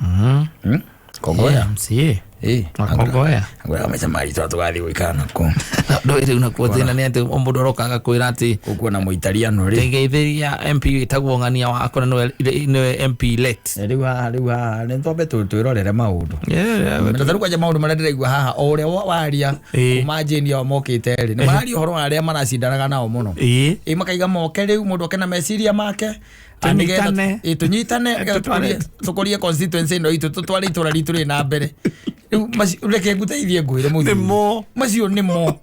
Mm. Hmm? Kongoya. Yeah, msiĩ. Eh. Makongoya. Ngoya amesema alitoa tugathi gwikana ko. Ndo ile unakuwa tena ni ati ombudo roka agakwira ati Ukuwa na muitaliano ri. tegeithiria MP itagwo ng'ania wako na niwe- niwe MP late. Riu haha riu haha nĩ twambe tũ- twĩrorere maũndũ Yeah, yeah, Na tarĩu kwanja maũndũ marĩa ndĩraigua haha o ũrĩa wa- waria Ĩĩ. kuma njĩni ao mokĩte rĩ nĩ mararia ũhoro wa arĩa maracindanaga nao mũno ĩĩ. ĩ makaiga moke rĩu mũndũ oke na meciria make Na nĩgetha Tũnyitane. ĩ, tũnyitane nĩgetha Tũtware- tũkũrie- tũkũrie constituency ĩno itũ tũtware itũra ritũ rĩ na mbere Rĩu maci- reke ngũteithie ngwĩre mũthuri. Nĩmo. macio nĩmo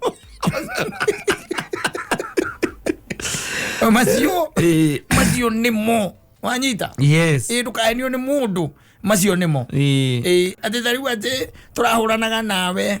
macio Eh. macio nĩmo wanyita yes ĩ ndũkahenio nĩ mũndũ macio nĩmo Eh. Ĩ, atĩ ta rĩu atĩ tũrahũranaga nawe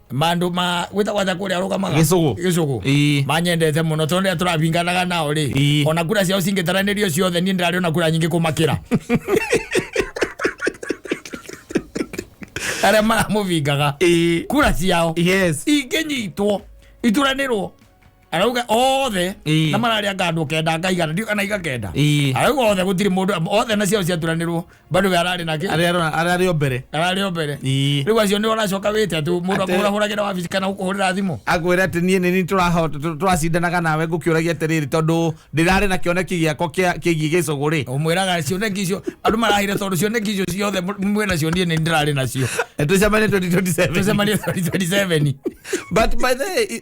mandu ma gwita gwaja kuria rugamaga Gĩcũgũ. gicugu Ii. manyendete muno tondu ria turabinganaga nao ri Ii. ona kura ciao cingitharanirio ciothe ni ndirari ona kura nyingi kumakira aria maramuvingaga Ii. kura ciao yes ingĩnyitwo ituranĩrwo arauga othe Ĩĩ. na mararĩa nga andå kenda ngaigana ndiå kana igakenda Ĩĩ. arauga othe gå tirä må ndå othe na ciao ciaturanä rwo bandå we ararä nakä arĩa arona- arĩa arĩ o mbere ararä o mbere Ĩĩ. rä u acio nä oracoka wä te atå må ndå Atĩ- akå hå ragä ra wabici kana gå kå hå rä ra thimå akwĩra atĩ niĩ nĩni tũracindanaga nawe ngũkĩũragia atĩrĩrĩ tondũ ndĩrarĩ na kĩoneki gĩakwa kĩa- kĩgiĩ gĩcũgũ rĩ å mwä raga cioneki icio andå marahire tondå cioneki icio ciothe mwä nacio niä nä ndärarä nacio nĩtũcemanie 2027 tåcemanie 2027 but by the way, i-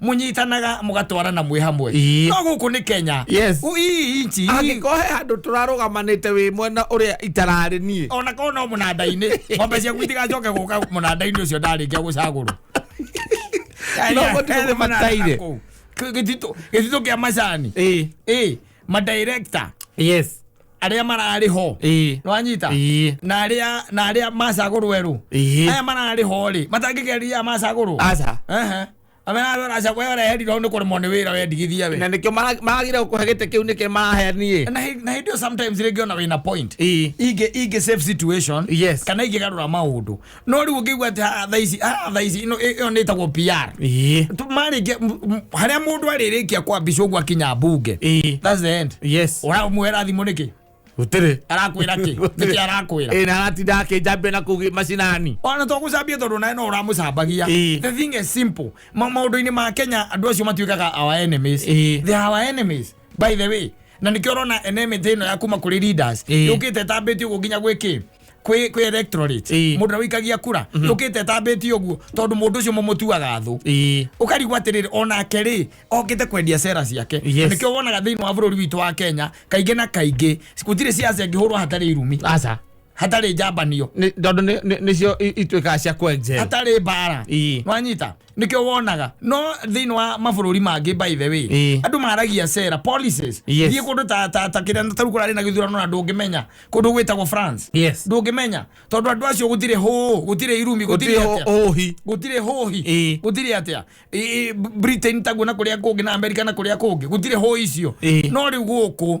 munyitanaga mugatwarana mwi hamwe Ii. no guku ni kenya Yes. U- ii inchi ii. angĩkorwo he handũ tũrarũgamanĩte wĩ mwena ũrĩa itararĩ niĩ ona korwo no mũnanda-inĩ ng'ombe ciaku itigacoke gũka mũnanda-inĩ ũcio ndarĩkia gũcagũrwo No, gũtirĩ gũthiĩ mataire. gĩtitũ kĩa macani Ĩĩ. ĩ madirekta yes arĩa mararĩ ho ĩĩ nĩwanyita ĩĩ na arĩa na arĩa macagũrwo erũ ĩĩ aya mararĩ ho rĩ matangĩkeria aya macagũrwo aca Ehe. amena andũ aracagwo aya reherirwo nĩ kũremwo nĩ wĩra wendigithia we na nĩkĩo mara- maragire gũkũhe gĩtĩ kĩu nĩkĩo marahe niĩ na hĩ- na hĩndĩ ĩyo sometimes rĩngĩ ona wĩna point ĩĩ ingĩ ingĩ safe situation Yes. kana ingĩgarũra maũndũ no rä u å ngä igua atä thaici thaici ä yo nä ätagwo pr Ĩĩ. Tu- marĩkia m- m- harĩa mũndũ arĩrĩkia kwambica ũguo akinya mbunge Ĩĩ. That's the end. yes ũramũhera thimũ nĩkĩ gũtirĩ arakwĩra kĩ nĩkĩ arakwĩra ĩna aratinda akĩnjambia na kũu macinani ona to gũcambia tondũ nawe no ũramũcambagia Ĩĩ. the thing is simple Ma- maũndũ-inĩ ma kenya andũ acio matuĩkaga our enemies Ĩĩ. they are our enemies by the way na nĩkĩo ũrona enemy ĩno ya kuma kũrĩ leaders Ĩĩ. yũkĩte ĩtambĩtio ũguo nginya gwĩkĩ kwĩ kwĩ electorate Ĩĩ. mũndũ ũrĩa ũikagia kura yũkĩte tambĩtie ũguo tondũ mũndũ ũcio mũmũtuaga thũ Ĩĩ. ukarigwo atĩrĩrĩ onake rĩ okĩte kwendia cera ciake Yes. nĩkĩo wonaga thĩinĩ wa bũrũri witũ wa kenya kaingĩ na kaingĩ gũtirĩ ciaca ingĩhũrwo hatarĩ irumi aca hatarĩ njambanio Nĩ- tondũ nĩ- nĩ- nĩcio i- ituĩkaga cia kwenjera hatarĩ mbara Ĩĩ. wanyita nĩkĩo wonaga no thĩinĩ wa mabũrũri mangĩ by the way Ĩĩ. andũ maragia cera policies Yes. thiĩ kũndũ ta- ta- ta kĩrĩa tarĩu kũrarĩ na gĩthurano na ndũngĩmenya kũndũ gwĩtagwo france Yes. ndũngĩmenya tondũ andũ acio gũtirĩ hũũ gũtirĩ irumi gũtirĩ Gũtirĩ atĩa. hũ- hũhi. gũtirĩ hũhi Ĩĩ. gũtirĩ atĩa Ĩ- ĩ, britain taguo na kũrĩa kũngĩ na amerika na kũrĩa kũngĩ gũtirĩ hũĩ icio Ĩĩ. no rĩu gũkũ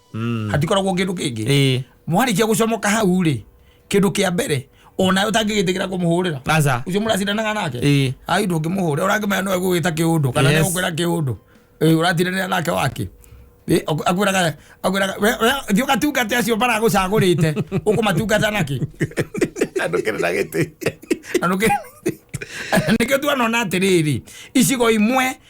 Mm. hatikoragwo kĩndũ kĩngĩ Eh, mwarĩkia gũcomoka hau rĩ kĩndũ kĩa mbere onayo ũtangĩgĩtĩkĩra kũmũhũrĩra aca ucio muracindanaga nake Eh. ai ndũngĩmũhũrĩra ũrangĩmenya no egũgĩta kĩũndũ kana Yes. nĩegũkwĩra kĩũndũ Eh, ũratindanĩra nake wake Eh, aku- akwĩraga akwĩraga we- we- thiĩ ũgatungate acio maragũcagũrĩte ũkũmatungata nake andå kä rä na gä tä na nũkĩ- nĩkĩo tuanona atĩrĩrĩ icigo imwe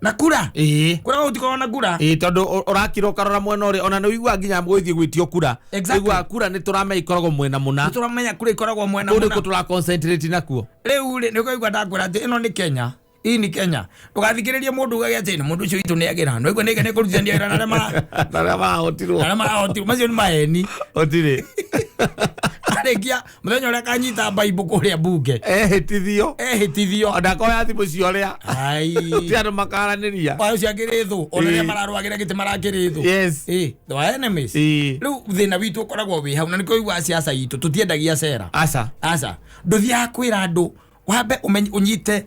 na kura ĩĩ kura gũtikorwo na kura ĩĩ tondå å- ũrakira ũkarora mwena å rä ona nä å iguaga nginya gwĩthiĩ gwĩtio kura Exactly. iguaga kura nä tå ramenya ikoragwo mwena må na tũramenya kura ikoragwo mwena kå rä kå mũna tå ra concentrate nakuo rĩu rĩ nĩ ũkaigua ndakwĩra atĩ ĩno nĩ kenya ii nĩ kenya ndũgathikĩrĩrie mũndũ ugage atĩ nĩ mũndũ ũcio witũ nĩ agĩra nĩ ũigua nĩ nĩ kũrutithania wĩra na arĩa ma- arĩa mahotirwo na arĩa mahotirwo macio nĩ maheni å tirä arĩkia muthenya uria kanyita baibu kuria bunge ehĩtithio ehitithio ndakoya thimũ cia ũrĩa ai ti andũ makaranĩria wayo cia ngirithũ ona ria Eh. mararwagira giti marangirithũ Yes. eh the enemies Eh. riu thina witu ukoragwo wi hau na niko igwa siasa itu tutiendagia cera aca aca nduthiaga kwira andu wambe umenye unyite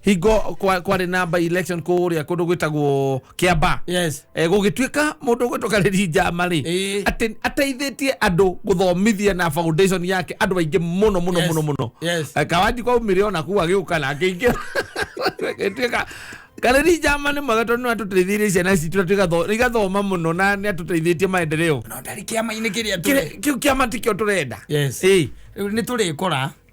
hingo kwa- kwarĩ na by election kũrĩa kũndũ gwĩtagwo kĩamba yes Eh, gũgĩtuĩka mũndũ ũgwĩtũka rĩri njama rĩ Ĩĩ. atĩ- ateithĩtie andũ gũthomithia na foundation yake andũ aingĩ mũno mũno Yes. mũno mũno Yes. Eh, kawanji kwa umire ona kuo agĩũka na akĩingĩra gĩtuĩka karĩri njama nĩ mwega tondũ nĩ atũteithĩirie ciana citũ na tũgatho- igathoma mũno na nĩ atũteithĩtie maendereo no ndarĩ kĩama-inĩ kĩrĩa tũrĩ Kĩrĩ- kĩu kĩama tikĩo tũrenda yes Ĩĩ. rĩu nĩ tũrĩkora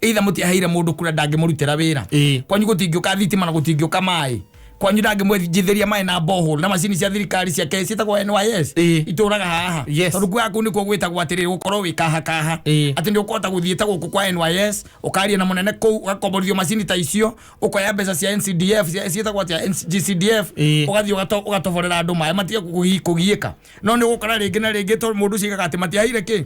eitha mũtiaheire mũndũ kura ndangĩmũrutĩra wĩra Ĩĩ. kwanyu gũtingĩũka thitima na gũtingĩũka maĩ kwanyu ndangĩmwenjithĩria maĩ na bohol na macini cia thirikari cia kesi ciĩtagwo nys Ĩĩ. itũraga haha Yes. tondũ kuga kuu nĩkuo gwĩtagwo atĩrĩrĩ gũkorwo wĩ kahakaha Ĩĩ. atĩ nĩ ũkũhota gũthiĩ ta gũkũ kwa nys ũkaria na mũnene kũu ũgakomborithio macini ta icio ũkoya mbeca cia ncdf cia- ciĩtagwo atĩa gcdf Ĩĩ. ũgathiĩ ũgato- ũgatoborera andũ maĩ matige kũgi- kũgiĩka no nĩ ũgũkora rĩngĩ na rĩngĩ tondũ mũndũ ũcio aigaga atĩ matiaheire kĩ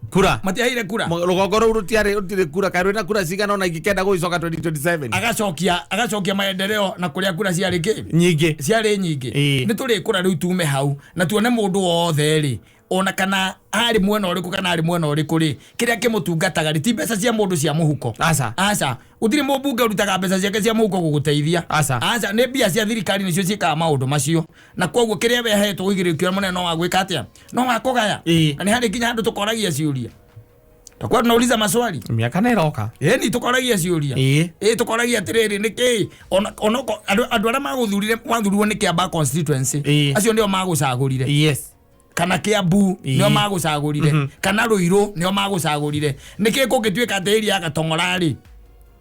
kura matiaheire kura Mo- rũgongo rũu rũtiarĩ rũtirĩ kura kaĩ rwĩna kura cigana ona ingĩkenda gũicoka 2027 agacokia agacokia maendeleo na kũrĩa kura ciarĩ kĩ nyingĩ ciarĩ nyingĩ Ĩĩ. nĩ tũrĩ kũra rĩu tume hau na tuone mũndũ wothe rĩ ona kana arĩ mwena ũrĩkũ kana arĩ mwena ũrĩkũ rĩ kĩrĩa kĩmũtungataga rĩ ti mbeca cia mũndũ cia mũhuko Aca. aca gũtirĩ mũmbunge ũrutaga mbeca ciake cia mũhuko gũgũteithia Aca. aca nĩ mbia cia thirikari nĩcio ciĩkaga maũndũ macio na koguo kĩrĩa wehetwo ũigĩrĩrĩkio mũnene no wagwĩka atĩa no wakugaya Ĩĩ. na nĩ harĩ nginya handũ tũkoragia ciũria takuwa tunauliza maswali miaka nä roka ĩni tũkoragia ciũria Ĩĩ. ĩĩ tũkoragia atĩrĩrĩ nĩ kĩĩ Ona- ona ũko- andũ andũ arĩa magũthurire wathurirwo nĩ kĩamba constituency Ĩĩ. acio nĩo magũcagũrire yes kana kiambu Ĩĩ. nĩo magũcagũrire kana rũirũ nĩo magũcagũrire nĩkĩ kũngĩtuĩka atĩ ĩria ya gatong'ora-rĩ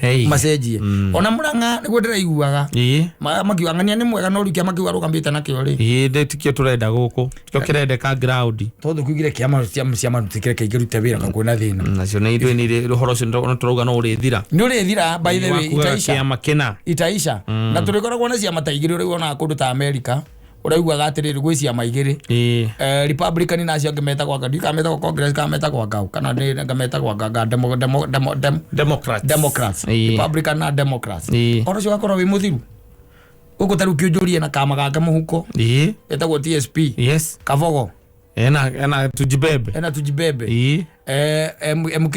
Hey. macenjie ona mũranga nĩguo ndĩraiguaga Ĩĩ. Ma- makiuga ng'ania nĩ mwega no rikia makiuga rũgamĩte nakĩo rĩ Ĩĩ, ndĩ tikio tũrenda gũkũ tikio kĩrendeka ground tondũ kiugire kĩama ciama- ciama tũtikĩre kaingĩ rute wĩra kakuona thĩna nacio nĩ ithuĩ nĩ ũhoro ũcio nĩ tũrauga no ũrĩthira nĩ ũrĩthira by the way Wakugaga itaica kĩama kĩna itaica na tũrĩkoragwo na ciama ta igĩrĩ ũrĩu onaga kũndũ ta amerika ũraiguaga atĩrĩrĩ gwĩ ciama igĩrĩ ĩĩ Eh, republican na acio angĩ metagwo anga ndiũ kameta gwa congress kameta gwa ngau kana nĩ ngameta gwa nganga demo demo demo dem democrats democrats Ĩĩ. republican na democrats Ĩĩ. ona cio gakorwo wĩ mũthiru gũkũ tarĩu kĩũnjũrie na kama gake mũhuko ĩĩ etagwo tsp yes kabogo ena ena tujibebe ena tujibebe ĩĩ eh, M- mk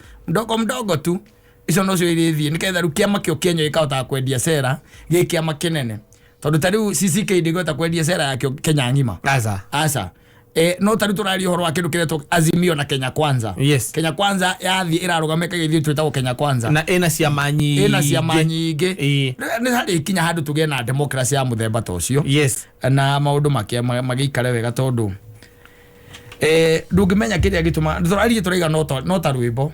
mdogo mdogo tu icio nocio irĩthiĩ nĩgetha rĩu kĩama kĩo kĩenyo gĩkahotaga kwendia cera gĩ kĩama kĩnene tondũ ta rĩu CCK ndĩngĩhota kwendia cera yakĩo Kenya ng'ima Aza. aca e, no tarä tå raria å horo wa kä ndå kä retwo azimio na kenya kwanza Yes. kenya kwanza yathiä ä rarå kä gä twä tagwo kenya kwanza na ina ciama nyingĩ ä na ciama nyingä Ĩĩ. nä harä kinya handå tå gä na demokrasi ya må themba ta å cio yes na maå ndå magä ikare wega tondå Eh, ndũngĩmenya kĩrĩa gĩtuma tũrariĩ tũraiga no ta- no ta rwĩmbo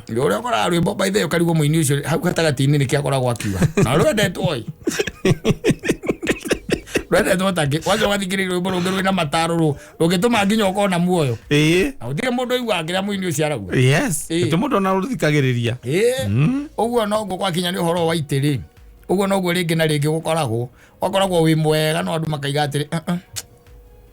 ũrĩa ũkoraga rwĩmbo by the way ũkarigwo mũini ũcio hau gatagatĩ-inĩ nĩkĩ akoragwo akiuga na rwendetwo ĩ rwendetwo takĩ waca wathikĩrĩria rwĩmbo rũngĩ rwĩ na mataro rũ rũngĩtũma nginya ũkorwo na muoyo ĩĩ na gũtirĩ mũndũ ũiguaga kĩrĩa mũini ũcio arauga yes Ĩĩ. gĩtĩ mũndũ ona rũthikagĩrĩria Ĩĩ. ũguo noguo gwakinya nĩ ũhoro wa itĩ rĩ ũguo noguo rĩngĩ na rĩngĩ gũkoragwo wakoragwo wĩ mwega no andũ makaiga atĩrĩ "Ah, ah,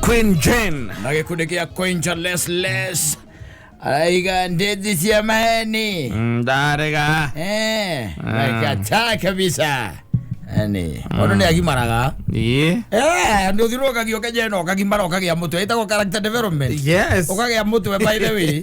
Queen Jane nakikudikia Quinta Les Les aiga ndezi cia maheni ndarega eh nakataa kabisa yani mundu ni agimaraga ii eh ndu thiru ukagio kenya ino ukagimara ukagĩa mũtwe ĩtagwo character development yes ukagĩa mũtwe by the way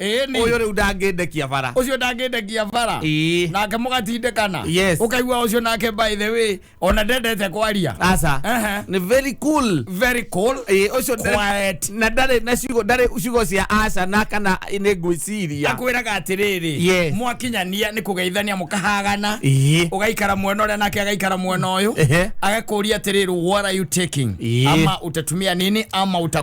Ĩĩ ni. uyu riu ndangĩndekia bara ucio ndangĩndekia bara Ii. nake mũgatindĩkana Yes. ũkaigua ucio nake by the way ona ndendete kwaria aca Ehe. ni very cool very cool Eh, ucio nda- Quiet. na ndarĩ na ciugo ndarĩ ciugo cia aca na kana nĩ ngwĩciria akwĩraga atĩrĩrĩ Yes. mwakinyania nĩ kũgeithania mũkahagana Ii. ũgaikara mwena ũrĩa nake agaikara mwena ũyũ Ehe. agakũria atĩrĩrĩ what are you taking Ii. ama utatumia nini ama uta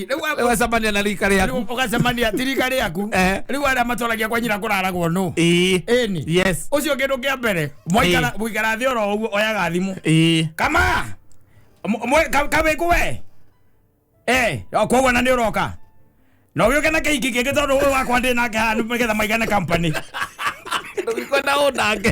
rä u Rĩu acemania na rika rĩaku rĩu ũgacemania tirika rĩaku Eh. rĩu arĩa matwaragia kwa nyina kũraragwo nũ Ĩĩ. ĩni yes ũcio kĩndũ kĩa mbere mwaikara Ĩĩ. mũikara thĩ oro ũguo oyaga thimũ Ĩĩ. kama Mw- mwe- ka- kawĩku we Eh, koguo na nĩ ũroka na ũgĩũke na kĩhiki kĩngĩ tondũ ũyũ wakwa ndĩ nake haha nĩ getha maigane company ndũgĩkwenda ũndange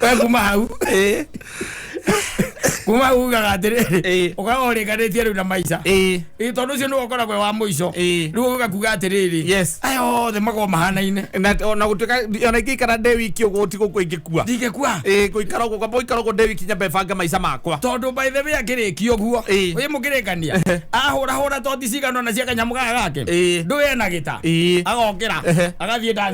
we kuma hau Eh, kuma hau ugaga atĩrĩrĩ Eh. ũgaga ũrĩkanĩtie rĩu na maica eh, Ĩ, tondũ ũcio nĩwe ũkoragwo wa mũico Eh. rĩu ũgakuga atĩrĩrĩ Yes. aya othe makorwo mahanaine na ona gutuika ona ingikara nde wiki uguo ti guku ingikua ndingĩkua eh guikara uguo kwamba guikara uguo nde wiki nyambe banga maica makwa tondå baithe wä akärä guo Ĩĩ. wä må kä rä kania ahå rahå ra toti cigano na cia kanyamå gaya gake Ĩĩ. ndå ena gä ta Ĩĩ. agokä ra Ehe. agathiä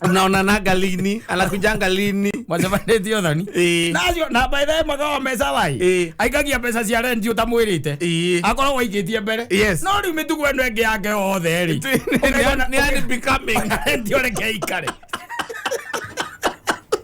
unaonanaga lini anakujanga lini macemanĩtio thoni Ĩĩ. nacio na by the way magawa mbeca Ĩĩ. wai aikagia mbeca cia rendi ũtamwĩrĩte Ĩĩ. akorwo waigĩtie mbere Yes. no rĩu mĩtugo ĩno ĩngĩ yake yothe rĩ Nĩ- nĩ- nĩ- nĩ unbecoming. rendi ũreke ikare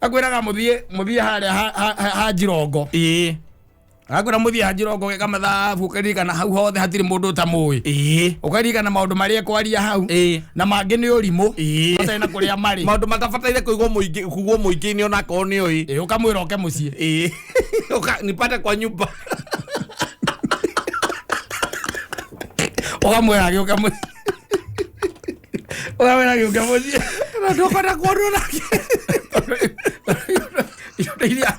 akwĩraga mũthiĩ mũthiĩ harĩa ha- ha- ha- ha njirongo ĩĩ akwĩra mũthiĩ ha njirongo gĩka mathabu ũkaririkana hau hothe hatirĩ mũndũ ũtamũĩ ĩĩ ũkaririkana maũndũ marĩa ekwaria hau Ĩĩ. na mangĩ nĩ ũrimũ Ĩĩ. matarĩ na kũrĩa marĩ maũndũ matabataire kũigwo mũingĩ kugwo mũingĩ-inĩ ona akorwo nĩ ũĩ Ĩĩ, ũkamwĩra oke mũciĩ ĩĩ Ũka- nipate kwa nyumba ũkamwĩra agĩũka mũciĩ Ũramera gĩũke mũciĩ. Na ndũkwenda kuonwo nake. Icoka iria.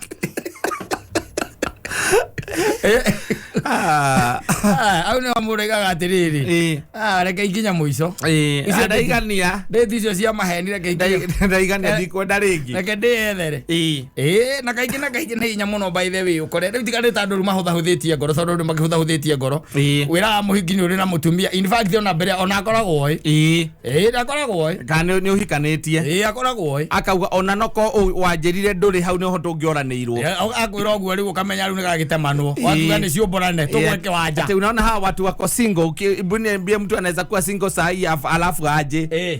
Ah, Ah, Au nĩo mũraigaga atĩrĩrĩ. eh, Ah, reke ikinya mũico. eh, Icio ndaigania. Ndĩti icio cia maheni reke ikinya. Ndaigania ndikwenda rĩngĩ. Reke ndĩyethere. Eh. ĩĩ na kaingĩ na kaingĩ nĩ hinya mũno by the way ũkore rĩu tiga nĩ ta andũ rĩu mahũthahũthĩtie ngoro tondũ andũ makĩhũthahũthĩtie ngoro Ĩĩ. wĩraga mũhingi nĩ ũrĩ na mũtumia in fact ona mbere ona akoragwo oĩ ĩĩ ĩĩ ndakoragwo oĩ kana nĩ ũhikanĩtie ĩĩ akoragwo oĩ akauga ona noko ũ- wanjĩrire ndũrĩ hau nĩho tũngĩoranĩirwo akwĩra ũguo rĩu ũkamenya rĩu nĩ gagĩtemanwo Ĩĩ. watuga nĩ ciũmborane tũgwe kĩwanja Ati unaona hawa watu wako single Uki- mbuni- mbie mtu anaweza kuwa single saa hii af- alafu aje Eh.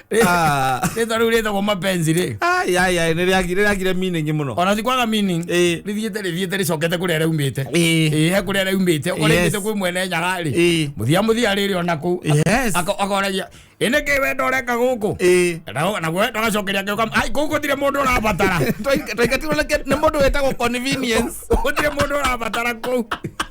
Ah. rĩtwa rĩu rĩtagwo mapenzi rĩ Ai, ai, ai, nĩ rĩagi- nĩ rĩagire meaning mũno ona cikwaga meaning Ĩĩ. rĩthiĩte rĩthiĩte rĩcokete kũrĩa rĩaumĩte Ĩĩ. Ĩĩ, he kũrĩa rĩaumĩte Yes. ũrĩmĩte kwĩ mwene nyaga rĩ Ĩĩ. mũthia mũthia rĩrĩ ona kũu Yes. Aka- akoragia ĩnĩ kĩ wendo ũreka gũkũ Ĩĩ. Na- naguo wendo agacokeria ngĩũka ai kũu gũtirĩ mũndũ ũrabatara Twaingatirwo nĩ kĩ- nĩ mũndũ wĩtagwo convenience gũtirĩ mũndũ ũrabatara kũu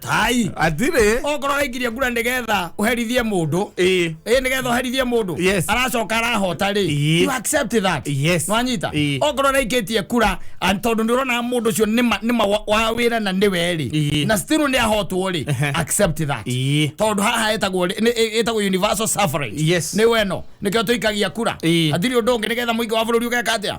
tai atirĩ okorwo ũraingĩria ngura nĩgetha ũherithie mũndũ Ĩĩ. ĩ nĩgetha ũherithie mũndũ Yes. aracoka arahota rĩ Ĩĩ. you accept that Yes. nwanyita Ĩĩ. okorwo ũraikĩtie kura and tondũ nĩ ũrona mũndũ ũcio nĩ ma- nĩ ma wa- wa wĩra na nĩwe Ĩĩ. rĩ na still nĩ ahotwo rĩ Ehe. accept that Ĩĩ. tondũ haha ĩtagwo rĩ- nĩ- ĩ- ĩtagwo universal suffrage Yes. nĩ weno nĩkĩo tũikagia kura Ĩĩ. atirĩ ũndũ ũngĩ nĩgetha mũingĩ wa bũrũri ũgeka atĩa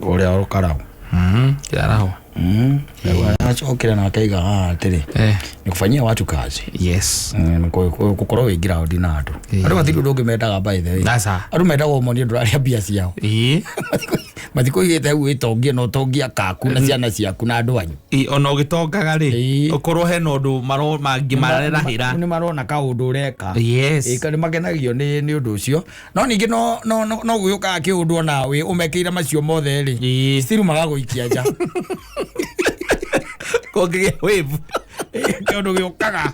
ũrĩa ũkaraũ Mhm, kĩaraho acokire na akaiga haha atĩrĩ Eh, nĩ kũbanyia watu kazi yes Mm, nĩ kũ- kũ- gũkorwo wĩ ngiraũndi na andũ Eh. andũ matirĩ ũndũ ũngĩ mendaga by the way Sasa. andũ mendaga ũmonie ndũrarĩa mbia ciao Ii, mathikũ igĩte hau wĩtongie na ũtongia kaku na ciana ciaku na andũ anyu ii, ona ũgĩtongaga rĩ Ii. ũkorwo hena ũndũ maro- mangĩ mararahĩra nĩ marona kaũndũ ũreka yes ĩka nĩ makenagio nĩ nĩ ũndũ ũcio no ningĩ no no no no gũgĩũkaga kĩũndũ ona wĩ ũmekeire macio mothe rĩ Ĩĩ. still magagũikia nja kũngĩgĩa wave kĩũndũ gĩũkaga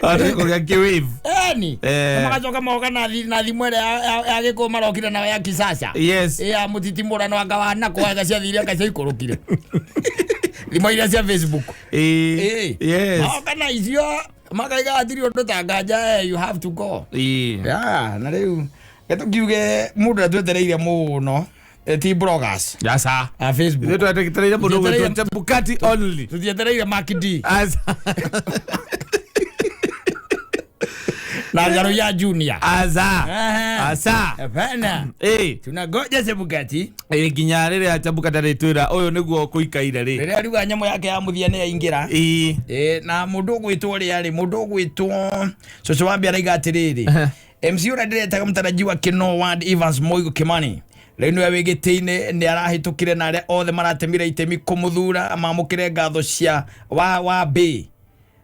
kũgĩa kĩ wave eni Eh. Na magacoka moka na thi- na thimũ ĩrĩa ya- ya- ya gĩkũũ marokire nayo ya kisasa yes ya mũtitimũrano anga wa nakwa anga ciathiire anga ciaikũrũkire thimũ iria cia facebook Ĩĩ. Ĩĩ. yes Magoka na icio makaiga atiri undu ta nganja eh, you have to go Ii. yeah, na riu getukiuge mundu atwetereire muno eh, ti bloggers Yasa. a Ithuĩ facebook twetereire mũndũ Twetereire- gwĩtwo Chebukati only. tutietereire makidi Asa. na ngaro ya junior Asa. Aha. Asa. Hapana. Ii. tunagoja sebugati Ĩ, nginya rä rä a njambuka ndarä twä ra å yå nä guo kå ikaire rä rĩrĩa riuga nyamũ yake ya mũthia nĩ yaingĩra Ĩ, Eh, na mundu ugwitwo ria ri mundu ugwitwo cucu wambi araiga atiriri mc uria ndiretaga mtarajiwa kino ward evans moigo kimani riu niwe wi giti-ini ni arahitukire na aria othe maratemire itemi kumuthura mamukire ngatho cia wa wa mbi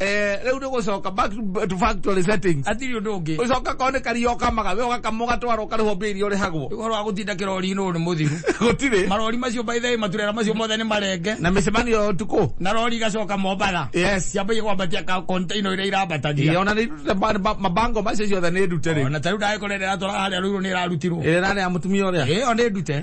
eh riu ni gucoka back to factory settings atiri undu ungi ucoka ko ni kario kamaga we ugakamwo gatwara ukarihwo mbia iria urihagwo uhoro wa gutinda kirori no ni muthiru gutiri marori macio by the way maturera macio mothe ni marenge na micemanio ya utuku na rori igacoka mombara yes ciambagia kwambatia ka container iria irambatagia yona ni mabango macio ciothe ni ndute riu ona tariu ndae korera atwara haria ruiru ni irarutirwo ira nani ya mutumia uria iyo ni ndute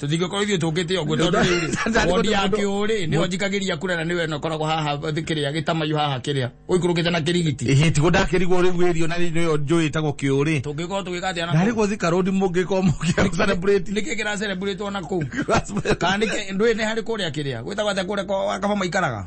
tũtingĩkorwo ithuĩ tũkĩte ũguo tondũ rĩu wondi ya kĩũrĩ nĩyo njikagĩria kura na nĩwe nokoragwo haha kĩrĩa gĩtamayu haha kĩrĩa ũikũrũkĩte na kĩrigiti ĩhĩ tigo ndakĩrigwo rĩu wĩrio na nĩyo njũĩ ĩtagwo kĩũrĩ tũngĩkorwo tũgĩka atĩa na narĩ gũthi karũndi mũngĩkorwo mũkĩa celebrate nĩkĩ kĩra celebrate ona kũu kana nĩkĩ ndũĩ nĩ harĩ kũrĩa kĩrĩa gwĩtagwo atĩa kũrĩa kwa kaba maikaraga